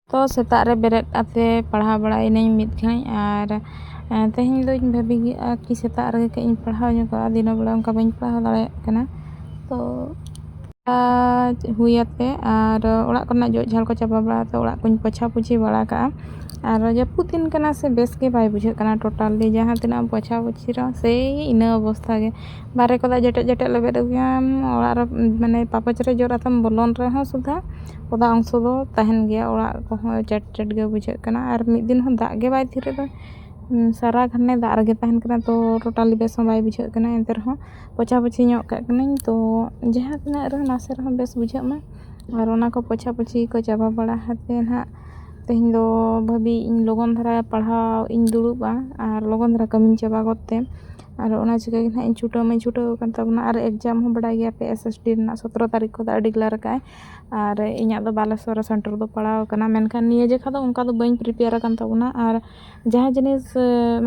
ᱛᱚ ᱥᱮᱛᱟᱜ ᱨᱮ ᱵᱮᱨᱮᱫ ᱠᱟᱛᱮᱫ ᱯᱟᱲᱦᱟᱣ ᱵᱟᱲᱟᱭᱮᱱᱟᱹᱧ ᱢᱤᱫ ᱜᱷᱟᱹᱲᱤᱡ ᱟᱨ ᱛᱮᱦᱮᱧ ᱫᱚᱧ ᱵᱷᱟᱹᱵᱤ ᱠᱮᱫᱼᱟ ᱠᱤ ᱥᱮᱛᱟᱜ ᱨᱮᱜᱮ ᱠᱟᱹᱡ ᱤᱧ ᱯᱟᱲᱦᱟᱣ ᱧᱚᱜᱚᱜᱼᱟ ᱫᱤᱱᱟᱹᱢ ᱵᱮᱲᱟ ᱚᱱᱠᱟ ᱵᱟᱹᱧ ᱯᱟᱲᱦᱟᱣ ᱫᱟᱲᱮᱭᱟᱜ ᱠᱟᱱᱟ ᱛᱚ ᱟᱨ ᱦᱩᱭ ᱟᱛᱮᱫ ᱟᱨ ᱚᱲᱟᱜ ᱠᱚᱨᱮᱱᱟᱜ ᱡᱚᱜ ᱡᱷᱟᱲ ᱠᱚ ᱪᱟᱵᱟ ᱵᱟᱲᱟ ᱠᱟᱛᱮᱫ ᱚᱲᱟᱜ ᱠᱚᱧ ᱯᱳᱪᱷᱟ ᱯᱩᱪᱷᱤ ᱵᱟᱲᱟ ᱠᱟᱜᱼᱟ ᱟᱨ ᱡᱟᱹᱯᱩᱫ ᱫᱤᱱ ᱠᱟᱱᱟ ᱥᱮ ᱵᱮᱥ ᱜᱮ ᱵᱟᱭ ᱵᱩᱡᱷᱟᱹᱜ ᱠᱟᱱᱟ ᱴᱳᱴᱟᱞᱤ ᱡᱟᱦᱟᱸ ᱛᱤᱱᱟᱹᱜ ᱮᱢ ᱯᱳᱪᱷᱟ ᱯᱩᱪᱷᱤ ᱨᱮᱦᱚᱸ ᱥᱮᱭ ᱤᱱᱟᱹ ᱚᱵᱚᱥᱛᱷᱟ ᱜᱮ ᱵᱟᱦᱨᱮ ᱠᱚᱨᱮᱫ ᱡᱮᱴᱮᱡ ᱡᱮᱴᱮᱡ ᱞᱮᱵᱮᱫ ᱟᱹᱜᱩᱭᱟᱢ ᱚᱲᱟᱜ ᱨᱮ ᱢᱟᱱᱮ ᱯᱟᱯᱚᱪ ᱨᱮ ᱡᱚᱜ ᱠᱟᱛᱮᱢ ᱵᱚᱞᱚᱱ ᱨᱮᱦᱚᱸ ᱥᱩᱫᱷᱟ ᱚᱫᱟ ᱚᱝᱥᱚ ᱫᱚ ᱛᱟᱦᱮᱱ ᱜᱮᱭᱟ ᱚᱲᱟᱜ ᱠᱚᱦᱚᱸ ᱪᱮᱴ ᱪᱮᱴ ᱜᱮ ᱵᱩᱡᱷᱟᱹᱜ ᱠᱟᱱᱟ ᱟᱨ ᱢᱤᱫ ᱫᱤᱱ ᱦᱚᱸ ᱫᱟᱜ ᱜᱮ ᱵᱟᱭ ᱛᱷᱤᱨ ᱮᱫᱟ ᱥᱟᱨᱟ ᱜᱷᱟᱱᱮ ᱫᱟᱜ ᱨᱮᱜᱮ ᱛᱟᱦᱮᱱ ᱠᱟᱱᱟ ᱛᱚ ᱴᱳᱴᱟᱞᱤ ᱵᱮᱥ ᱦᱚᱸ ᱵᱟᱭ ᱵᱩᱡᱷᱟᱹᱜ ᱠᱟᱱᱟ ᱮᱱᱛᱮ ᱨᱮᱦᱚᱸ ᱯᱳᱪᱷᱟ ᱯᱩᱪᱷᱤ ᱧᱚᱜ ᱠᱟᱜ ᱠᱟᱹᱱᱟᱹᱧ ᱛᱚ ᱡᱟᱦᱟᱸ ᱛᱤᱱᱟᱹᱜ ᱨᱮᱦᱚᱸ ᱱᱟᱥᱮ ᱨᱮᱦᱚᱸ ᱵᱮᱥ ᱵᱩᱡᱷᱟᱹᱜ ᱢᱟ ᱟᱨ ᱚᱱᱟ ᱠᱚ ᱯᱳᱪᱷᱟ ᱯᱩᱪᱷᱤ ᱠᱚ ᱪᱟᱵᱟ ᱵᱟᱲᱟ ᱠᱟᱛᱮᱫ ᱦᱟᱸᱜ ᱛᱮᱦᱮᱧ ᱫᱚ ᱵᱷᱟᱹᱵᱤᱭᱮᱫ ᱟᱹᱧ ᱞᱚᱜᱚᱱ ᱫᱷᱟᱨᱟ ᱯᱟᱲᱦᱟᱣ ᱤᱧ ᱫᱩᱲᱩᱵᱟ ᱟᱨ ᱞᱚᱜᱚᱱ ᱫᱷᱟᱨᱟ ᱠᱟᱹᱢᱤᱧ ᱪᱟᱵᱟ ᱜᱚᱫ ᱛᱮ ᱟᱨ ᱚᱱᱟ ᱪᱤᱠᱟᱹ ᱜᱮ ᱦᱟᱸᱜ ᱤᱧ ᱪᱷᱩᱴᱟᱹᱣ ᱢᱟᱹᱧ ᱪᱷᱩᱴᱟᱹᱣ ᱟᱠᱟᱱ ᱛᱟᱵᱚᱱᱟ ᱟᱨ ᱮᱠᱡᱟᱢ ᱦᱚᱸ ᱵᱟᱲᱟᱭ ᱜᱮᱭᱟᱯᱮ ᱮᱥᱮᱥᱴᱤ ᱨᱮᱱᱟᱜ ᱥᱚᱛᱨᱚ ᱛᱟᱹᱨᱤᱠᱷ ᱠᱷᱚᱱ ᱫᱚ ᱟᱹᱰᱤ ᱜᱮᱞᱟᱨ ᱠᱟᱜᱼᱟᱭ ᱟᱨ ᱤᱧᱟᱹᱜ ᱫᱚ ᱵᱟᱞᱮᱥᱥᱚᱨ ᱨᱮ ᱥᱮᱱᱴᱟᱨ ᱫᱚ ᱯᱟᱲᱟᱣ ᱠᱟᱱᱟ ᱢᱮᱱᱠᱷᱟᱱ ᱱᱤᱭᱟᱹ ᱡᱚᱠᱷᱟᱱ ᱫᱚ ᱚᱱᱠᱟ ᱫᱚ ᱵᱟᱹᱧ ᱯᱨᱤᱯᱮᱭᱟᱨ ᱟᱠᱟᱱ ᱛᱟᱵᱚᱱᱟ ᱟᱨ ᱡᱟᱦᱟᱸ ᱡᱤᱱᱤᱥ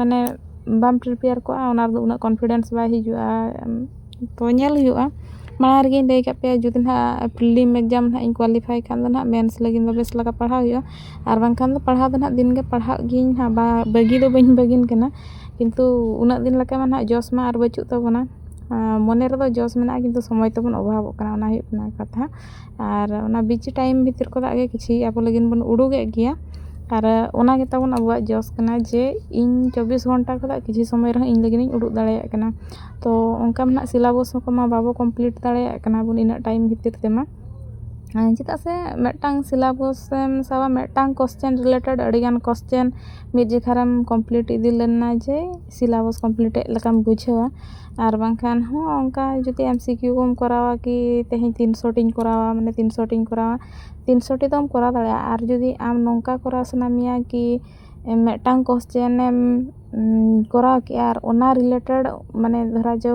ᱢᱟᱱᱮ ᱵᱟᱢ ᱯᱨᱤᱯᱮᱭᱟᱨ ᱠᱚᱜᱼᱟ ᱚᱱᱟ ᱨᱮᱫᱚ ᱩᱱᱟᱹᱜ ᱠᱚᱱᱯᱷᱤᱰᱮᱱᱥ ᱵᱟᱭ ᱦᱤᱡᱩᱜᱼᱟ ᱛᱚ ᱧᱮᱞ ᱦᱩᱭᱩᱜᱼᱟ ᱢᱟᱲᱟᱝ ᱨᱮᱜᱮᱧ ᱞᱟᱹᱭ ᱠᱟᱜ ᱯᱮᱭᱟ ᱡᱩᱫᱤ ᱦᱟᱸᱜ ᱯᱷᱤᱞᱤᱢ ᱮᱠᱡᱟᱢ ᱦᱟᱸᱜ ᱤᱧ ᱠᱳᱣᱟᱞᱤᱯᱷᱟᱭ ᱠᱷᱟᱱ ᱫᱚ ᱦᱟᱸᱜ ᱢᱮᱱᱥ ᱞᱟᱹᱜᱤᱫ ᱫᱚ ᱵᱮᱥ ᱞᱮᱠᱟ ᱯᱟᱲᱦᱟᱣ ᱦᱩᱭᱩᱜᱼᱟ ᱟᱨ ᱵᱟᱝᱠᱷᱟᱱ ᱫᱚ ᱯᱟᱲᱦᱟᱣ ᱫᱚ ᱦᱟᱸᱜ ᱫᱤᱱ ᱜᱮ ᱯᱟᱲᱦᱟᱜ ᱜᱤᱭᱟᱹᱧ ᱦᱟᱸᱜ ᱵᱟᱹᱜᱤ ᱫᱚ ᱵᱟᱹᱧ ᱵᱟᱹᱜᱤᱱ ᱠᱟᱱᱟ ᱠᱤᱱᱛᱩ ᱩᱱᱟᱹᱜ ᱫᱤᱱ ᱞᱮᱠᱟ ᱢᱟ ᱦᱟᱸᱜ ᱡᱚᱥ ᱢᱟ ᱟᱨ ᱵᱟᱹᱪᱩᱜ ᱛᱟᱵᱚᱱᱟ ᱢᱚᱱᱮ ᱨᱮᱫᱚ ᱡᱚᱥ ᱢᱮᱱᱟᱜᱼᱟ ᱠᱤᱱᱛᱩ ᱥᱚᱢᱚᱭ ᱛᱮᱵᱚᱱ ᱚᱵᱷᱟᱵᱚᱜ ᱠᱟᱱᱟ ᱚᱱᱟ ᱦᱩᱭᱩᱜ ᱠᱟᱱᱟ ᱠᱟᱛᱷᱟ ᱟᱨ ᱚᱱᱟ ᱵᱤᱡᱤ ᱴᱟᱭᱤᱢ ᱵᱷᱤᱛᱤᱨ ᱠᱷᱚᱱᱟᱜ ᱜᱮ ᱠᱤᱪᱷᱤ ᱟᱵᱚ ᱞᱟᱹᱜᱤᱫ ᱵᱚᱱ ᱩᱰᱩᱠᱮᱫ ᱜᱮᱭᱟ ᱟᱨ ᱚᱱᱟ ᱜᱮᱛᱟᱵᱚᱱ ᱟᱵᱚᱣᱟᱜ ᱡᱚᱥ ᱠᱟᱱᱟ ᱡᱮ ᱤᱧ ᱪᱚᱵᱵᱤᱥ ᱜᱷᱚᱱᱴᱟ ᱠᱷᱚᱱᱟᱜ ᱠᱤᱪᱷᱩ ᱥᱚᱢᱚᱭ ᱨᱮᱦᱚᱸ ᱤᱧ ᱞᱟᱹᱜᱤᱫ ᱤᱧ ᱩᱰᱩᱠ ᱫᱟᱲᱮᱭᱟᱜ ᱠᱟᱱᱟ ᱛᱚ ᱚᱱᱠᱟ ᱢᱟ ᱦᱟᱸᱜ ᱥᱤᱞᱟᱵᱚᱥ ᱠᱚᱢᱟ ᱵᱟᱵᱚ ᱠᱚᱢᱯᱤᱞᱤᱴ ᱫᱟᱲᱮᱭᱟᱜ ᱠᱟᱱᱟ ᱵᱚᱱ ᱤᱱᱟᱹᱜ ᱴᱟᱭᱤᱢ ᱵᱷᱤᱛᱤᱨ ᱛᱮᱢᱟ ᱪᱮᱫᱟᱜ ᱥᱮ ᱢᱤᱫᱴᱟᱝ ᱥᱤᱞᱟᱵᱚᱥ ᱮᱢ ᱥᱟᱵᱟ ᱢᱤᱫᱴᱟᱝ ᱠᱚᱥᱪᱟᱱ ᱨᱤᱞᱮᱴᱮᱰ ᱟᱹᱰᱤᱜᱟᱱ ᱠᱚᱥᱪᱟᱱ ᱢᱤᱫ ᱡᱚᱠᱷᱟᱨᱮᱢ ᱠᱚᱢᱯᱤᱞᱤᱴ ᱤᱫᱤ ᱞᱮᱱᱟ ᱡᱮ ᱥᱤᱞᱟᱵᱚᱥ ᱠᱚᱢᱯᱞᱤᱴ ᱮᱫ ᱞᱮᱠᱟᱢ ᱵᱩᱡᱷᱟᱹᱣᱟ ᱟᱨ ᱵᱟᱝᱠᱷᱟᱱ ᱦᱚᱸ ᱚᱱᱠᱟ ᱡᱩᱫᱤ ᱮᱢ ᱥᱤ ᱠᱤᱭᱩ ᱠᱚᱢ ᱠᱚᱨᱟᱣᱟ ᱠᱤ ᱛᱮᱦᱮᱧ ᱛᱤᱱᱥᱚ ᱴᱤᱧ ᱠᱚᱨᱟᱣᱟ ᱢᱟᱱᱮ ᱛᱤᱱᱥᱚ ᱴᱤᱧ ᱠᱚᱨᱟᱣᱟ ᱛᱤᱱᱥᱚ ᱴᱤ ᱫᱚᱢ ᱠᱚᱨᱟᱣ ᱫᱟᱲᱮᱭᱟᱜᱼᱟ ᱟᱨ ᱡᱩᱫᱤ ᱟᱢ ᱱᱚᱝᱠᱟ ᱠᱚᱨᱟᱣ ᱥᱟᱱᱟ ᱢᱮᱭᱟ ᱠᱤ ᱢᱤᱫᱴᱟᱝ ᱠᱚᱥᱪᱮᱱ ᱮᱢ ᱠᱚᱨᱟᱣ ᱠᱮᱜᱼᱟ ᱟᱨ ᱚᱱᱟ ᱨᱤᱞᱮᱴᱮᱰ ᱢᱟᱱᱮ ᱫᱷᱚᱨᱟ ᱡᱳ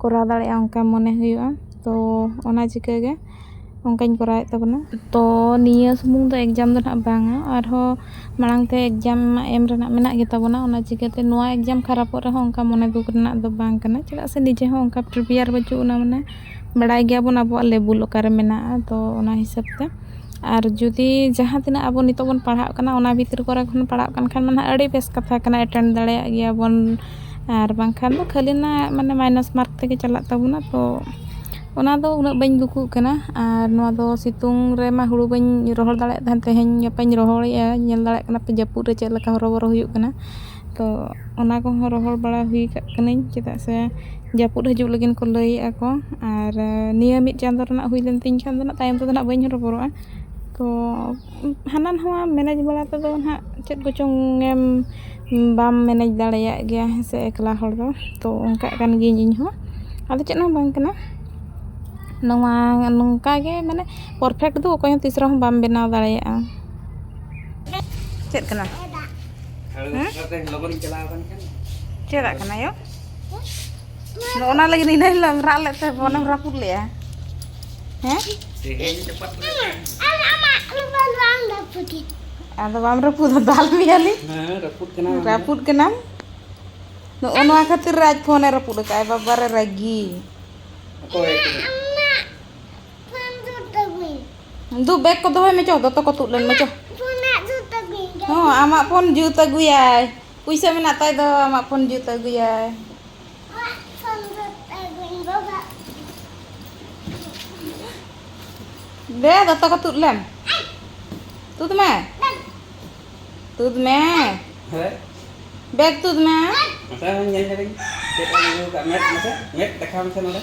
ᱠᱚᱨᱟᱣ ᱫᱟᱲᱮᱭᱟᱜᱼᱟ ᱚᱱᱠᱟ ᱢᱚᱱᱮ ᱦᱩᱭᱩᱜᱼᱟ ᱛᱚ ᱚᱱᱟ ᱪᱤᱠᱟᱹ ᱜᱮ ᱚᱱᱠᱟᱧ ᱠᱚᱨᱟᱣᱮᱫ ᱛᱟᱵᱚᱱᱟ ᱛᱚ ᱱᱤᱭᱟᱹ ᱥᱩᱢᱩᱝ ᱫᱚ ᱮᱠᱡᱟᱢ ᱫᱚ ᱱᱟᱦᱟᱜ ᱵᱟᱝᱟ ᱟᱨᱦᱚᱸ ᱢᱟᱲᱟᱝ ᱛᱮ ᱮᱠᱡᱟᱢ ᱢᱟ ᱮᱢ ᱨᱮᱱᱟᱜ ᱢᱮᱱᱟᱜ ᱜᱮᱛᱟ ᱵᱚᱱᱟ ᱚᱱᱟ ᱪᱤᱠᱟᱹᱛᱮ ᱱᱚᱣᱟ ᱮᱠᱡᱟᱢ ᱠᱷᱟᱨᱟᱯᱚᱜ ᱨᱮᱦᱚᱸ ᱚᱱᱠᱟ ᱢᱚᱱᱮ ᱫᱩᱠ ᱨᱮᱱᱟᱜ ᱫᱚ ᱵᱟᱝ ᱠᱟᱱᱟ ᱪᱮᱫᱟᱜ ᱥᱮ ᱱᱤᱡᱮ ᱦᱚᱸ ᱚᱱᱠᱟ ᱯᱨᱤᱯᱮᱭᱟᱨ ᱵᱟᱹᱪᱩᱜ ᱟᱱᱟ ᱢᱟᱱᱮ ᱵᱟᱲᱟᱭ ᱜᱮᱭᱟᱵᱚᱱ ᱟᱵᱚᱣᱟᱜ ᱞᱮᱵᱩᱞ ᱚᱠᱟᱨᱮ ᱢᱮᱱᱟᱜᱼᱟ ᱛᱚ ᱚᱱᱟ ᱦᱤᱥᱟᱹᱵᱽ ᱛᱮ ᱟᱨ ᱡᱩᱫᱤ ᱡᱟᱦᱟᱸ ᱛᱤᱱᱟᱹᱜ ᱟᱵᱚ ᱱᱤᱛᱚᱜ ᱵᱚᱱ ᱯᱟᱲᱦᱟᱜ ᱠᱟᱱᱟ ᱚᱱᱟ ᱵᱷᱤᱛᱨᱤ ᱠᱚᱨᱮ ᱠᱷᱚᱱ ᱯᱟᱲᱦᱟᱜ ᱠᱟᱱ ᱠᱷᱟᱱ ᱢᱟᱱᱮ ᱟᱹᱰᱤ ᱵᱮᱥ ᱠᱟᱛᱷᱟ ᱠᱟᱱᱟ ᱮᱴᱮᱱᱰ ᱫᱟᱲᱮᱭᱟᱜ ᱜᱮᱭᱟ ᱵᱚᱱ ᱟᱨ ᱵᱟᱝᱠᱷᱟᱱ ᱫᱚ ᱠᱷᱟᱹᱞᱤ ᱚᱱᱟ ᱢᱟᱱᱮ ᱢᱟᱭᱱᱟᱥ ᱢᱟᱨᱠ ᱛᱮᱜᱮ ᱪᱟᱞᱟᱜ ᱛᱟᱵᱚᱱᱟ ᱛᱚ ᱚᱱᱟ ᱫᱚ ᱩᱱᱟᱹᱜ ᱵᱟᱹᱧ ᱫᱩᱠᱩᱜ ᱠᱟᱱᱟ ᱟᱨ ᱱᱚᱣᱟ ᱫᱚ ᱥᱤᱛᱩᱝ ᱨᱮᱢᱟ ᱦᱳᱲᱳ ᱵᱟᱹᱧ ᱨᱚᱦᱚᱲ ᱫᱟᱲᱮᱭᱟᱜ ᱛᱟᱦᱮᱱ ᱛᱮᱦᱮᱧ ᱜᱟᱯᱟᱧ ᱨᱚᱦᱚᱲᱮᱜᱼᱟ ᱧᱮᱞ ᱫᱟᱲᱮᱭᱟᱜ ᱠᱟᱱᱟ ᱯᱮ ᱡᱟᱹᱯᱩᱫ ᱨᱮ ᱪᱮᱫ ᱞᱮᱠᱟ ᱦᱚᱨᱚᱵᱚᱨᱚ ᱦᱩᱭᱩᱜ ᱠᱟᱱᱟ ᱛᱚ ᱚᱱᱟ ᱠᱚᱦᱚᱸ ᱨᱚᱦᱚᱲ ᱵᱟᱲᱟ ᱦᱩᱭ ᱠᱟᱜ ᱠᱟᱹᱱᱟᱹᱧ ᱪᱮᱫᱟᱜ ᱥᱮ ᱡᱟᱹᱯᱩᱫ ᱦᱤᱡᱩᱜ ᱞᱟᱹᱜᱤᱫ ᱠᱚ ᱞᱟᱹᱭᱮᱜᱼᱟ ᱠᱚ ᱟᱨ ᱱᱤᱭᱟᱹ ᱢᱤᱫ ᱪᱟᱸᱫᱚ ᱨᱮᱱᱟᱜ ᱦᱩᱭ ᱞᱮᱱ ᱛᱤᱧ ᱠᱷᱟᱱ ᱫᱚ ᱛᱟᱭᱚᱢ ᱛᱮᱫᱚ ᱦᱟᱸᱜ ᱵᱟᱹᱧ ᱦᱚᱨᱚᱵᱚᱨᱚᱜᱼᱟ ᱛᱚ ᱦᱟᱱᱟ ᱱᱚᱣᱟ ᱢᱮᱱᱮᱡᱽ ᱵᱟᱲᱟ ᱛᱮᱫᱚ ᱦᱟᱸᱜ ᱪᱮᱫ ᱠᱚᱪᱚᱝ ᱮᱢ ᱵᱟᱢ ᱢᱮᱱᱮᱡᱽ ᱫᱟᱲᱮᱭᱟᱜ ᱜᱮᱭᱟ ᱦᱮᱸ ᱥᱮ ᱮᱠᱞᱟ ᱦᱚᱲ ᱫᱚ ᱛᱚ ᱚᱱᱠᱟᱜ ᱠᱟᱱ ᱜᱤᱭᱟᱹᱧ ᱤᱧ ᱦᱚᱸ ᱟᱫᱚ ᱪᱮᱫ ᱦᱚᱸ ᱵᱟᱝ ᱠᱟᱱᱟ ᱱᱚᱣᱟ ᱱᱚᱝᱠᱟ ᱜᱮ ᱢᱟᱱᱮ ᱯᱟᱨᱯᱷᱮᱠᱴ ᱫᱚ ᱚᱠᱚᱭ ᱦᱚᱸ ᱛᱤᱥ ᱨᱮᱦᱚᱸ ᱵᱟᱢ ᱵᱮᱱᱟᱣ ᱫᱟᱲᱮᱭᱟᱜᱼᱟ ᱪᱮᱫ ᱠᱟᱱᱟ ᱪᱮᱫᱟᱜ ᱠᱟᱱᱟ ᱭᱚ ᱚᱱᱟ ᱞᱟᱹᱜᱤᱫ ᱤᱱᱟᱹ ᱦᱤᱞᱳᱜ ᱨᱟᱜ ᱞᱮᱫ ᱛᱮ ᱵᱚᱱᱮᱢ ᱨᱟᱹᱯᱩᱫ ᱞᱮᱜᱼᱟ ᱦᱮᱸ ᱟᱫᱚ ᱵᱟᱢ ᱨᱟᱹᱯᱩᱫᱟ ᱫᱟᱞ ᱢᱮᱭᱟᱞᱤᱧ ᱨᱟᱹᱯᱩᱫ ᱠᱟᱱᱟᱢ ᱱᱚᱜᱼᱚ ᱱᱚᱣᱟ ᱠᱷᱟᱹᱛᱤᱨ ᱨᱟᱡᱽ ᱯᱷᱳᱱᱮ ᱨᱟᱹᱯᱩᱫ ᱟᱠᱟᱫᱼᱟᱭ ᱵᱟᱵᱟᱨᱮ ᱨᱟᱹᱜᱤ ᱫᱩ ᱵᱮᱜᱽ ᱠᱚ ᱫᱚᱦᱚᱭ ᱢᱮ ᱪᱚ ᱫᱚᱛᱚ ᱠᱚ ᱛᱩᱫ ᱞᱮᱱ ᱢᱮ ᱪᱚ ᱦᱚᱸ ᱟᱢᱟᱜ ᱯᱷᱳᱱ ᱡᱩᱛ ᱟᱹᱜᱩᱭᱟᱭ ᱯᱩᱭᱥᱟᱹ ᱢᱮᱱᱟᱜ ᱛᱟᱭ ᱫᱚ ᱟᱢᱟᱜ ᱯᱷᱳᱱ ᱡᱩᱛ ᱟᱹᱜᱩᱭᱟᱭ ᱫᱮ ᱫᱚᱛᱚ ᱠᱚ ᱛᱩᱫ ᱞᱮᱢ ᱛᱩᱫ ᱢᱮ ᱛᱩᱫ ᱢᱮ ᱵᱮᱜᱽ ᱛᱩᱫ ᱢᱮ ᱢᱮᱫ ᱫᱮᱠᱷᱟᱣ ᱢᱮᱥᱮ ᱱᱚᱰᱮ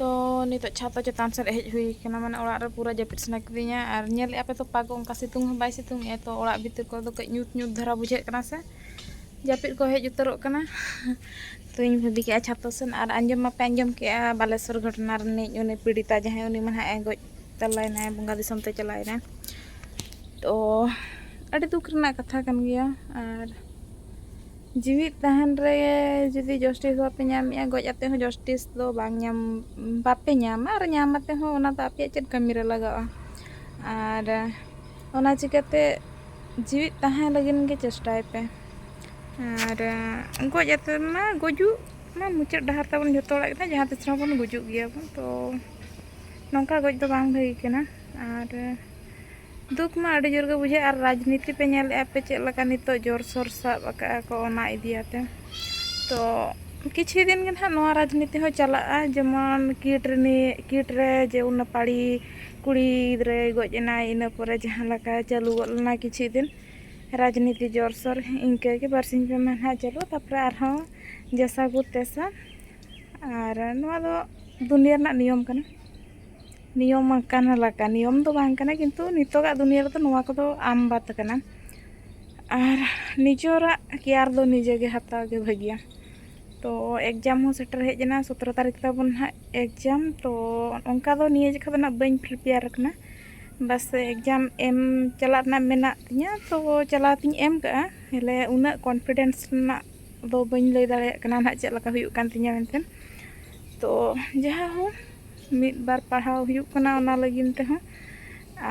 ᱛᱚ ᱱᱤᱛᱚᱜ ᱪᱷᱟᱛᱟ ᱪᱮᱛᱟᱱ ᱥᱮᱫ ᱦᱮᱡ ᱦᱩᱭ ᱠᱟᱱᱟ ᱢᱟᱱᱮ ᱚᱲᱟᱜ ᱨᱮ ᱯᱩᱨᱟᱹ ᱡᱟᱹᱯᱤᱫ ᱥᱟᱱᱟ ᱠᱤᱫᱤᱧᱟ ᱟᱨ ᱧᱮᱞᱮᱫ ᱟᱯᱮ ᱛᱚ ᱯᱟᱠ ᱚᱱᱠᱟ ᱥᱤᱛᱩᱝ ᱦᱚᱸ ᱵᱟᱭ ᱥᱤᱛᱩᱝ ᱮᱫᱟ ᱛᱚ ᱚᱲᱟᱜ ᱵᱷᱤᱛᱤᱨ ᱠᱚᱨᱮ ᱫᱚ ᱠᱟᱹᱡ ᱧᱩᱛ ᱧᱩᱛ ᱫᱷᱟᱨᱟ ᱵᱩᱡᱷᱟᱹᱜ ᱠᱟᱱᱟ ᱥᱮ ᱡᱟᱹᱯᱤᱫ ᱠᱚ ᱦᱮᱡ ᱩᱛᱟᱹᱨᱚᱜ ᱠᱟᱱᱟ ᱛᱚᱧ ᱵᱷᱟᱹᱵᱤ ᱠᱮᱜᱼᱟ ᱪᱷᱟᱛᱟ ᱥᱮᱱ ᱟᱨ ᱟᱸᱡᱚᱢ ᱢᱟᱯᱮ ᱟᱸᱡᱚᱢ ᱠᱮᱜᱼᱟ ᱵᱟᱞᱮᱥᱚᱨ ᱜᱷᱚᱴᱚᱱᱟ ᱨᱤᱱᱤᱡ ᱩᱱᱤ ᱯᱤᱲᱤᱛᱟ ᱡᱟᱦᱟᱸᱭ ᱩᱱᱤ ᱢᱟ ᱱᱟᱦᱟᱜ ᱮ ᱜᱚᱡ ᱛᱟᱞᱟᱭᱮᱱᱟᱭ ᱵᱚᱸᱜᱟ ᱫᱤᱥᱚᱢ ᱛᱮ ᱪᱟᱞᱟᱣᱮᱱᱟᱭ ᱛᱚ ᱟᱹᱰᱤ ᱫᱩᱠ ᱨᱮᱱᱟᱜ ᱠᱟᱛᱷᱟ ᱠᱟᱱ ᱜᱮᱭᱟ ᱟᱨ ᱡᱤᱣᱤᱫ ᱛᱟᱦᱮᱱ ᱨᱮ ᱡᱩᱫᱤ ᱡᱚᱥᱴᱤᱥ ᱵᱟᱯᱮ ᱧᱟᱢᱮᱜᱼᱟ ᱜᱚᱡ ᱟᱛᱮ ᱦᱚᱸ ᱡᱚᱥᱴᱤᱥ ᱫᱚ ᱵᱟᱝ ᱧᱟᱢ ᱵᱟᱯᱮ ᱧᱟᱢᱟ ᱟᱨ ᱧᱟᱢ ᱟᱛᱮ ᱦᱚᱸ ᱚᱱᱟ ᱫᱚ ᱟᱯᱮᱭᱟᱜ ᱪᱮᱫ ᱠᱟᱹᱢᱤ ᱨᱮ ᱞᱟᱜᱟᱜᱼᱟ ᱟᱨ ᱚᱱᱟ ᱪᱤᱠᱟᱹᱛᱮ ᱡᱤᱣᱤᱫ ᱛᱟᱦᱮᱸ ᱞᱟᱹᱜᱤᱫ ᱜᱮ ᱪᱮᱥᱴᱟᱭ ᱯᱮ ᱟᱨ ᱜᱚᱡ ᱟᱛᱮ ᱢᱟ ᱜᱩᱡᱩᱜ ᱢᱟ ᱢᱩᱪᱟᱹᱫ ᱰᱟᱦᱟᱨ ᱛᱟᱵᱚᱱ ᱡᱚᱛᱚ ᱦᱚᱲᱟᱜ ᱜᱮ ᱡᱟᱦᱟᱸ ᱛᱤᱥ ᱨᱮᱦᱚᱸ ᱵᱚᱱ ᱜᱩᱡᱩᱜ ᱜᱮᱭᱟ ᱵᱚᱱ ᱛᱚ ᱱᱚᱝᱠᱟ ᱜᱚᱡ ᱫᱚ ᱵᱟᱝ ᱵᱷᱟᱹᱜᱤ ᱠᱟᱱᱟ ᱟᱨ ᱫᱩᱠ ᱢᱟ ᱟᱹᱰᱤ ᱡᱳᱨ ᱜᱮ ᱵᱩᱡᱷᱟᱹᱜᱼᱟ ᱟᱨ ᱨᱟᱡᱽᱱᱤᱛᱤ ᱯᱮ ᱧᱮᱞᱮᱫᱼᱟ ᱯᱮ ᱪᱮᱫ ᱞᱮᱠᱟ ᱱᱤᱛᱚᱜ ᱡᱳᱨ ᱥᱳᱨ ᱥᱟᱵ ᱟᱠᱟᱫᱼᱟ ᱠᱚ ᱚᱱᱟ ᱤᱫᱤᱭᱟᱛᱮ ᱛᱚ ᱠᱤᱪᱷᱩ ᱫᱤᱱ ᱜᱮ ᱱᱟᱦᱟᱜ ᱱᱚᱣᱟ ᱨᱟᱡᱽᱱᱤᱛᱤ ᱦᱚᱸ ᱪᱟᱞᱟᱜᱼᱟ ᱡᱮᱢᱚᱱ ᱠᱤᱴ ᱨᱤᱱᱤᱡ ᱠᱤᱴ ᱨᱮ ᱡᱮ ᱩᱱ ᱱᱟᱯᱟᱲᱤ ᱠᱩᱲᱤ ᱜᱤᱫᱽᱨᱟᱹᱭ ᱜᱚᱡ ᱮᱱᱟᱭ ᱤᱱᱟᱹ ᱯᱚᱨᱮ ᱡᱟᱦᱟᱸ ᱞᱮᱠᱟ ᱪᱟᱹᱞᱩ ᱜᱚᱫ ᱞᱮᱱᱟ ᱠᱤᱪᱷᱩ ᱫᱤᱱ ᱨᱟᱡᱽᱱᱤᱛᱤ ᱡᱳᱨ ᱥᱳᱨ ᱤᱱᱠᱟᱹ ᱜᱮ ᱵᱟᱨ ᱥᱤᱧ ᱯᱮ ᱢᱟᱦᱟ ᱱᱟᱦᱟᱜ ᱪᱟᱹᱞᱩᱜᱼᱟ ᱛᱟᱨᱯᱚᱨᱮ ᱟᱨᱦᱚᱸ ᱡᱟᱥᱟ ᱜᱩᱨ ᱛᱮᱥᱟ ᱟᱨ ᱱᱚᱣᱟ ᱫᱚ ᱫᱩᱱᱤᱭᱟᱹ ᱨᱮᱱᱟᱜ ᱱᱤᱭᱚᱢ ᱠᱟᱱᱟ ᱱᱤᱭᱚᱢ ᱟᱠᱟᱱ ᱞᱮᱠᱟ ᱱᱤᱭᱚᱢ ᱫᱚ ᱵᱟᱝ ᱠᱟᱱᱟ ᱠᱤᱱᱛᱩ ᱱᱤᱛᱚᱜᱟᱜ ᱫᱩᱱᱤᱭᱟᱹ ᱨᱮᱫᱚ ᱱᱚᱣᱟ ᱠᱚᱫᱚ ᱟᱢ ᱵᱟᱛ ᱠᱟᱱᱟ ᱟᱨ ᱱᱤᱡᱚᱨᱟᱜ ᱠᱮᱭᱟᱨ ᱫᱚ ᱱᱤᱡᱮ ᱜᱮ ᱦᱟᱛᱟᱣ ᱜᱮ ᱵᱷᱟᱹᱜᱤᱭᱟ ᱛᱚ ᱮᱠᱡᱟᱢ ᱦᱚᱸ ᱥᱮᱴᱮᱨ ᱦᱮᱡ ᱮᱱᱟ ᱥᱚᱛᱨᱚ ᱛᱟᱹᱨᱤᱠᱷ ᱛᱟᱵᱚᱱ ᱱᱟᱦᱟᱜ ᱮᱠᱡᱟᱢ ᱛᱚ ᱚᱱᱠᱟ ᱫᱚ ᱱᱤᱭᱟᱹ ᱡᱚᱠᱷᱟ ᱫᱚ ᱱᱟᱦᱟᱜ ᱵᱟᱹᱧ ᱯᱨᱤᱯᱮᱭᱟᱨ ᱟᱠᱟᱱᱟ ᱵᱟᱥ ᱮᱠᱡᱟᱢ ᱮᱢ ᱪᱟᱞᱟᱜ ᱨᱮᱱᱟᱜ ᱢᱮᱱᱟᱜ ᱛᱤᱧᱟᱹ ᱛᱚ ᱪᱟᱞᱟᱣ ᱛᱤᱧ ᱮᱢ ᱠᱟᱜᱼᱟ ᱦᱮᱞᱮ ᱩᱱᱟᱹᱜ ᱠᱚᱱᱯᱷᱤᱰᱮᱱᱥ ᱨᱮᱱᱟᱜ ᱫᱚ ᱵᱟᱹᱧ ᱞᱟᱹᱭ ᱫᱟᱲᱮᱭᱟᱜ ᱠᱟᱱᱟ ᱱᱟᱦᱟᱜ ᱪᱮᱫ ᱞᱮᱠᱟ ᱦᱩᱭᱩᱜ ᱠᱟᱱ ᱛᱤᱧᱟᱹ ᱢᱮᱱᱛᱮ ᱛᱚ ᱡᱟᱦᱟᱸ ᱦᱳᱠ ᱢᱤᱫ ᱵᱟᱨ ᱯᱟᱲᱦᱟᱣ ᱦᱩᱭᱩᱜ ᱠᱟᱱᱟ ᱚᱱᱟ ᱞᱟᱹᱜᱤᱫ ᱛᱮᱦᱚᱸ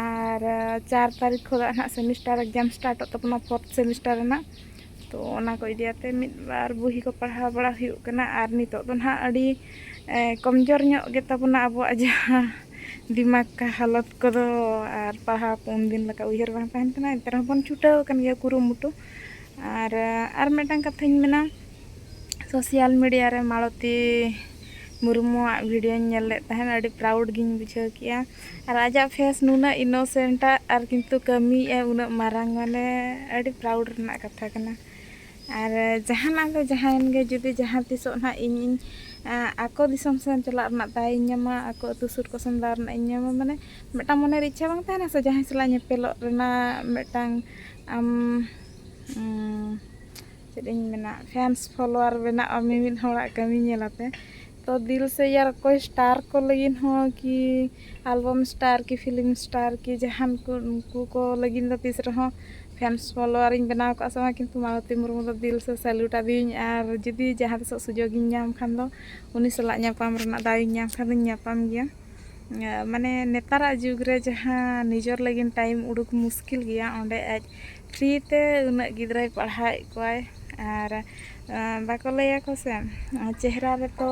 ᱟᱨ ᱪᱟᱨ ᱛᱟᱹᱨᱤᱠᱷ ᱠᱷᱚᱱ ᱦᱟᱸᱜ ᱥᱮᱢᱤᱥᱴᱟᱨ ᱮᱠᱡᱟᱢ ᱥᱴᱟᱨᱴᱚᱜ ᱛᱟᱵᱚᱱᱟ ᱯᱷᱳᱨᱛᱷ ᱥᱮᱢᱤᱥᱴᱟᱨ ᱨᱮᱱᱟᱜ ᱛᱳ ᱚᱱᱟ ᱠᱚ ᱤᱫᱤ ᱠᱟᱛᱮᱫ ᱢᱤᱫ ᱵᱟᱨ ᱵᱳᱭ ᱠᱚ ᱯᱟᱲᱦᱟᱣ ᱵᱟᱲᱟ ᱦᱩᱭᱩᱜ ᱠᱟᱱᱟ ᱟᱨ ᱱᱤᱛᱚᱜ ᱫᱚ ᱦᱟᱸᱜ ᱟᱹᱰᱤ ᱠᱚᱢ ᱡᱳᱨ ᱧᱚᱜ ᱜᱮᱛᱟ ᱵᱚᱱᱟ ᱟᱵᱚᱣᱟᱜ ᱡᱟᱦᱟᱸ ᱫᱤᱢᱟᱜᱽ ᱠᱟ ᱦᱟᱞᱚᱛ ᱠᱚᱫᱚ ᱟᱨ ᱯᱟᱲᱦᱟᱣ ᱠᱚ ᱩᱱ ᱫᱤᱱ ᱞᱮᱠᱟ ᱩᱭᱦᱟᱹᱨ ᱵᱟᱝ ᱛᱟᱦᱮᱱ ᱠᱟᱱᱟ ᱮᱱᱛᱮ ᱨᱮᱦᱚᱸ ᱵᱚᱱ ᱪᱷᱩᱴᱟᱹᱣ ᱟᱠᱟᱱ ᱜᱮᱭᱟ ᱠᱩᱨᱩᱢᱩᱴᱩ ᱟᱨ ᱟᱨ ᱢᱤᱫᱴᱟᱝ ᱠᱟᱛᱷᱟᱧ ᱢᱮᱱᱟ ᱥᱳᱥᱟᱞ ᱢᱤᱰᱤᱭᱟ ᱨᱮ ᱢᱟᱞᱚᱛᱤ ᱢᱩᱨᱢᱩᱣᱟᱜ ᱵᱷᱤᱰᱤᱭᱳᱧ ᱧᱮᱞ ᱞᱮᱫ ᱛᱟᱦᱮᱱ ᱟᱹᱰᱤ ᱯᱨᱟᱣᱩᱰ ᱜᱤᱧ ᱵᱩᱡᱷᱟᱹᱣ ᱠᱮᱜᱼᱟ ᱟᱨ ᱟᱡᱟᱜ ᱯᱷᱮᱥ ᱱᱩᱱᱟᱹᱜ ᱤᱱᱳᱥᱮᱱᱴ ᱟᱜ ᱟᱨ ᱠᱤᱱᱛᱩ ᱠᱟᱹᱢᱤᱭᱮᱜ ᱟᱭ ᱩᱱᱟᱹᱜ ᱢᱟᱨᱟᱝ ᱢᱟᱱᱮ ᱟᱹᱰᱤ ᱯᱨᱟᱣᱩᱰ ᱨᱮᱱᱟᱜ ᱠᱟᱛᱷᱟ ᱠᱟᱱᱟ ᱟᱨ ᱡᱟᱦᱟᱱᱟᱜ ᱜᱮ ᱡᱟᱦᱟᱸᱭᱮᱱ ᱜᱮ ᱡᱩᱫᱤ ᱡᱟᱦᱟᱸ ᱛᱤᱥᱚᱜ ᱱᱟᱜ ᱤᱧᱤᱧ ᱟᱠᱚ ᱫᱤᱥᱚᱢ ᱥᱮᱱ ᱪᱟᱞᱟᱜ ᱨᱮᱱᱟᱜ ᱫᱟᱣ ᱤᱧ ᱧᱟᱢᱟ ᱟᱠᱚ ᱟᱛᱳ ᱥᱩᱨ ᱠᱚᱥᱮᱱ ᱫᱟᱣ ᱨᱮᱱᱟᱜ ᱤᱧ ᱧᱟᱢᱟ ᱢᱟᱱᱮ ᱢᱤᱫᱴᱟᱝ ᱢᱚᱱᱮᱨᱮ ᱤᱪᱪᱷᱟ ᱵᱟᱝ ᱛᱟᱦᱮᱱᱟ ᱥᱮ ᱡᱟᱦᱟᱸᱭ ᱥᱟᱞᱟᱜ ᱧᱮᱯᱮᱞᱚᱜ ᱨᱮᱱᱟᱜ ᱢᱤᱫᱴᱟᱝ ᱟᱢ ᱪᱮᱫ ᱤᱧ ᱢᱮᱱᱟ ᱯᱷᱮᱱᱥ ᱯᱷᱚᱞᱳᱣᱟᱨ ᱵᱮᱱᱟᱜᱼᱟ ᱢᱤᱢᱤᱫ ᱦᱚᱲᱟᱜ ᱠᱟᱹᱢᱤ ᱧᱮᱞ ᱠᱟᱛᱮᱫ ᱛᱚ ᱫᱤᱞ ᱥᱮ ᱭᱟᱨ ᱠᱚ ᱥᱴᱟᱨ ᱠᱚ ᱞᱟᱹᱜᱤᱫ ᱦᱚᱸ ᱠᱤ ᱟᱞᱵᱟᱢ ᱥᱴᱟᱨ ᱠᱤ ᱯᱷᱤᱞᱢ ᱥᱴᱟᱨ ᱠᱤ ᱡᱟᱦᱟᱱ ᱠᱚ ᱩᱱᱠᱩ ᱠᱚ ᱞᱟᱹᱜᱤᱫ ᱫᱚ ᱛᱤᱥ ᱨᱮᱦᱚᱸ ᱯᱷᱮᱱᱥ ᱯᱷᱚᱞᱳᱣᱟᱨ ᱤᱧ ᱵᱮᱱᱟᱣ ᱠᱚᱜᱼᱟ ᱥᱮ ᱵᱟᱝ ᱠᱤᱱᱛᱩ ᱢᱟᱞᱚᱛᱤ ᱢᱩᱨᱢᱩ ᱫᱚ ᱫᱤᱞ ᱥᱮ ᱥᱮᱞᱩᱴ ᱟᱹᱫᱤᱭᱟᱹᱧ ᱟᱨ ᱡᱩᱫᱤ ᱡᱟᱦᱟᱸ ᱛᱤᱥᱚᱜ ᱥᱩᱡᱳᱜᱽ ᱤᱧ ᱧᱟᱢ ᱠᱷᱟᱱ ᱫᱚ ᱩᱱᱤ ᱥᱟᱞᱟᱜ ᱧᱟᱯᱟᱢ ᱨᱮᱱᱟᱜ ᱫᱟᱣ ᱤᱧ ᱧᱟᱢ ᱠᱷᱟᱱ ᱫᱚᱧ ᱧᱟᱯᱟᱢ ᱜᱮᱭᱟ ᱢᱟᱱᱮ ᱱᱮᱛᱟᱨᱟᱜ ᱡᱩᱜᱽ ᱨᱮ ᱡᱟᱦᱟᱸ ᱱᱤᱡᱚᱨ ᱞᱟᱹᱜᱤᱫ ᱴᱟᱭᱤᱢ ᱩᱰᱩᱠ ᱢᱩᱥᱠᱤᱞ ᱜᱮᱭᱟ ᱚᱸᱰᱮ ᱟᱡ ᱯᱷᱨᱤ ᱛᱮ ᱩᱱᱟᱹᱜ ᱜᱤᱫᱽᱨᱟᱹᱭ ᱯᱟᱲᱦᱟᱣᱮᱫ ᱠᱚᱣᱟᱭ ᱟᱨ ᱵᱟᱠᱚ ᱞᱟᱹᱭᱟᱠᱚ ᱥᱮ ᱪᱮᱦᱨᱟ ᱨᱮᱛᱚ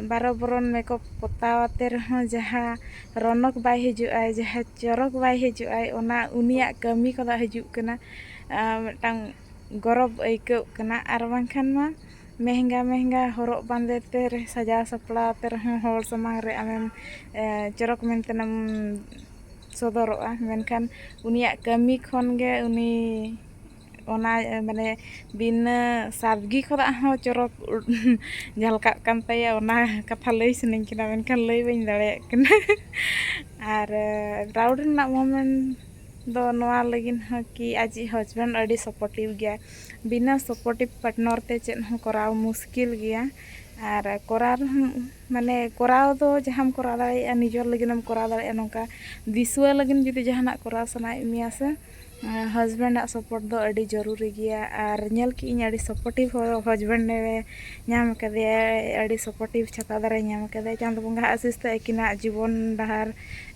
ᱵᱟᱨᱚ ᱵᱚᱨᱚᱱ ᱢᱮᱠᱚᱯ ᱯᱚᱛᱟᱣ ᱟᱛᱮ ᱨᱮᱦᱚᱸ ᱡᱟᱦᱟᱸ ᱨᱚᱱᱚᱠ ᱵᱟᱭ ᱦᱤᱡᱩᱜ ᱟᱭ ᱡᱟᱦᱟᱸ ᱪᱚᱨᱚᱠ ᱵᱟᱭ ᱦᱤᱡᱩᱜ ᱟᱭ ᱚᱱᱟ ᱩᱱᱤᱭᱟᱜ ᱠᱟᱹᱢᱤ ᱠᱷᱚᱱᱟᱜ ᱦᱤᱡᱩᱜ ᱠᱟᱱᱟ ᱢᱤᱫᱴᱟᱝ ᱜᱚᱨᱚᱵᱽ ᱟᱹᱭᱠᱟᱹᱜ ᱠᱟᱱᱟ ᱟᱨ ᱵᱟᱝᱠᱷᱟᱱ ᱢᱟ ᱢᱮᱦᱮᱝᱜᱟ ᱢᱮᱦᱮᱝᱜᱟ ᱦᱚᱨᱚᱜ ᱵᱟᱸᱫᱮ ᱛᱮ ᱥᱟᱡᱟᱣ ᱥᱟᱯᱲᱟᱣ ᱛᱮ ᱨᱮᱦᱚᱸ ᱦᱚᱲ ᱥᱟᱢᱟᱝ ᱨᱮ ᱟᱢᱮᱢ ᱪᱚᱨᱚᱠ ᱢᱮᱱᱛᱮᱱᱮᱢ ᱥᱚᱫᱚᱨᱚᱜᱼᱟ ᱢᱮᱱᱠᱷᱟᱱ ᱩᱱᱤᱭᱟᱜ ᱠᱟᱹᱢᱤ ᱠᱷᱚᱱ ᱜᱮ ᱩᱱᱤ ᱚᱱᱟ ᱢᱟᱱᱮ ᱵᱤᱱᱟᱹ ᱥᱟᱫᱽᱜᱤ ᱠᱷᱚᱱᱟᱜ ᱦᱚᱸ ᱪᱚᱨᱚᱠ ᱡᱷᱟᱞᱠᱟᱜ ᱠᱟᱱ ᱛᱟᱭᱟ ᱚᱱᱟ ᱠᱟᱛᱷᱟ ᱞᱟᱹᱭ ᱥᱟᱱᱟᱧ ᱠᱟᱱᱟ ᱢᱮᱱᱠᱷᱟᱱ ᱞᱟᱹᱭ ᱵᱟᱹᱧ ᱫᱟᱲᱮᱭᱟᱜ ᱠᱟᱱᱟ ᱟᱨ ᱯᱨᱟᱣᱩᱰ ᱨᱮᱱᱟᱜ ᱢᱳᱢᱮᱱᱴ ᱫᱚ ᱱᱚᱣᱟ ᱞᱟᱹᱜᱤᱫ ᱦᱚᱸ ᱠᱤ ᱟᱡᱤᱡ ᱦᱟᱡᱵᱮᱱᱰ ᱟᱹᱰᱤ ᱥᱟᱯᱳᱨᱴᱤᱵᱽ ᱜᱮᱭᱟᱭ ᱵᱤᱱᱟᱹ ᱥᱟᱯᱳᱨᱴᱤᱵᱽ ᱯᱟᱨᱴᱱᱟᱨ ᱛᱮ ᱪᱮᱫ ᱦᱚᱸ ᱠᱚᱨᱟᱣ ᱢᱩᱥᱠᱤᱞ ᱜᱮᱭᱟ ᱟᱨ ᱠᱚᱨᱟᱣ ᱨᱮᱦᱚᱸ ᱢᱟᱱᱮ ᱠᱚᱨᱟᱣ ᱫᱚ ᱡᱟᱦᱟᱸᱢ ᱠᱚᱨᱟᱣ ᱫᱟᱲᱮᱭᱟᱜᱼᱟ ᱱᱤᱡᱚᱨ ᱞᱟᱹᱜᱤᱫ ᱮᱢ ᱠᱚᱨᱟᱣ ᱫᱟᱲᱮᱭᱟᱜᱼᱟ ᱱᱚᱝᱠᱟ ᱫᱤᱥᱩᱣᱟᱹ ᱞᱟᱹᱜᱤᱫ ᱡᱩᱫᱤ ᱡᱟᱦᱟᱱᱟᱜ ᱠᱚᱨᱟᱣ ᱥᱟᱱᱟᱭᱮᱫ ᱢᱮᱭᱟ ᱥᱮ ᱦᱟᱥᱵᱮᱱᱰ ᱟᱜ ᱥᱟᱯᱳᱨᱴ ᱫᱚ ᱟᱹᱰᱤ ᱡᱟᱹᱨᱩᱨᱤ ᱜᱮᱭᱟ ᱟᱨ ᱧᱮᱞ ᱠᱮᱜ ᱟᱹᱧ ᱟᱹᱰᱤ ᱥᱟᱯᱳᱨᱴᱤᱵᱽ ᱦᱚᱲ ᱦᱟᱥᱵᱮᱱᱰ ᱮ ᱧᱟᱢ ᱠᱟᱫᱮᱭᱟ ᱟᱹᱰᱤ ᱥᱟᱯᱳᱨᱴᱤᱵᱽ ᱪᱷᱟᱛᱟ ᱫᱟᱨᱮ ᱧᱟᱢ ᱠᱟᱫᱮᱭᱟ ᱪᱟᱸᱫᱚ ᱵᱚᱸᱜᱟ ᱟᱜ ᱟᱥᱤᱥ ᱛᱮ ᱟᱹᱠᱤᱱᱟᱜ ᱡᱤᱵᱚᱱ ᱰᱟᱦᱟᱨ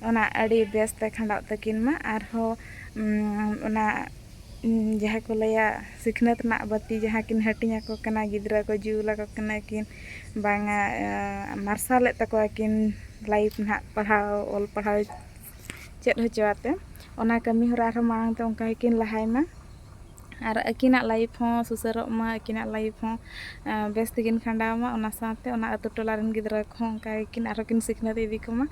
ᱚᱱᱟ ᱟᱹᱰᱤ ᱵᱮᱥ ᱛᱮ ᱠᱷᱟᱸᱰᱟᱜ ᱛᱟᱹᱠᱤᱱ ᱢᱟ ᱟᱨᱦᱚᱸ ᱚᱱᱟ ᱡᱟᱦᱟᱸ ᱠᱚ ᱞᱟᱹᱭᱟ ᱥᱤᱠᱷᱱᱟᱹᱛ ᱨᱮᱱᱟᱜ ᱵᱟᱹᱛᱤ ᱡᱟᱦᱟᱸ ᱠᱤᱱ ᱦᱟᱹᱴᱤᱧ ᱟᱠᱚ ᱠᱟᱱᱟ ᱜᱤᱫᱽᱨᱟᱹ ᱠᱚ ᱡᱩᱞ ᱟᱠᱚ ᱠᱟᱱᱟ ᱠᱤᱱ ᱵᱟᱝᱟ ᱢᱟᱨᱥᱟᱞᱮᱫ ᱛᱟᱠᱚᱣᱟ ᱠᱤᱱ ᱞᱟᱭᱤᱯᱷ ᱱᱟᱦᱟᱜ ᱯᱟᱲᱦᱟᱣ ᱚᱞ ᱯᱟᱲᱦᱟᱣ ᱪᱮᱫ ᱦᱚᱪᱚ ᱟᱛᱮ ᱚᱱᱟ ᱠᱟᱹᱢᱤ ᱦᱚᱨᱟ ᱟᱨᱦᱚᱸ ᱢᱟᱲᱟᱝ ᱛᱮ ᱚᱱᱠᱟ ᱜᱮᱠᱤᱱ ᱞᱟᱦᱟᱭ ᱢᱟ ᱟᱨ ᱟᱹᱠᱤᱱᱟᱜ ᱞᱟᱭᱤᱯᱷ ᱦᱚᱸ ᱥᱩᱥᱟᱹᱨᱚᱜ ᱢᱟ ᱟᱹᱠᱤᱱᱟᱜ ᱞᱟᱭᱤᱯᱷ ᱦᱚᱸ ᱵᱮᱥ ᱛᱮᱠᱤᱱ ᱠᱷᱟᱸᱰᱟᱣ ᱢᱟ ᱚᱱᱟ ᱥᱟᱶᱛᱮ ᱚᱱᱟ ᱟᱛᱳ ᱴᱚᱞᱟ ᱨᱮᱱ ᱜᱤᱫᱽᱨᱟᱹ ᱠᱚᱦᱚᱸ ᱚᱱᱠᱟ ᱜᱮᱠᱤᱱ ᱟᱨᱦᱚᱸ ᱠᱤᱱ ᱥᱤᱠᱷᱱᱟᱹᱛ ᱤᱫᱤ ᱠᱚᱢᱟ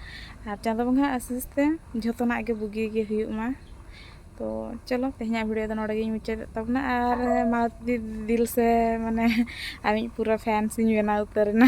ᱟᱨ ᱪᱟᱸᱫᱚ ᱵᱚᱸᱜᱟᱣᱟᱜ ᱟᱥᱤᱥ ᱛᱮ ᱡᱚᱛᱚᱱᱟᱜ ᱜᱮ ᱵᱩᱜᱤ ᱜᱮ ᱦᱩᱭᱩᱜ ᱢᱟ ᱛᱚ ᱪᱚᱞᱚ ᱛᱮᱦᱮᱧᱟᱜ ᱵᱷᱤᱰᱤᱭᱳ ᱫᱚ ᱱᱚᱰᱮ ᱜᱤᱧ ᱢᱩᱪᱟᱹᱫᱮᱫ ᱛᱟᱵᱚᱱᱟ ᱟᱨ ᱢᱟ ᱫᱤᱞ ᱥᱮ ᱢᱟᱱᱮ ᱟᱢᱤᱡ ᱯᱩᱨᱟᱹ ᱯᱷᱮᱱᱥ ᱤᱧ ᱵᱮᱱᱟᱣ ᱩᱛᱟᱹᱨᱮᱱᱟ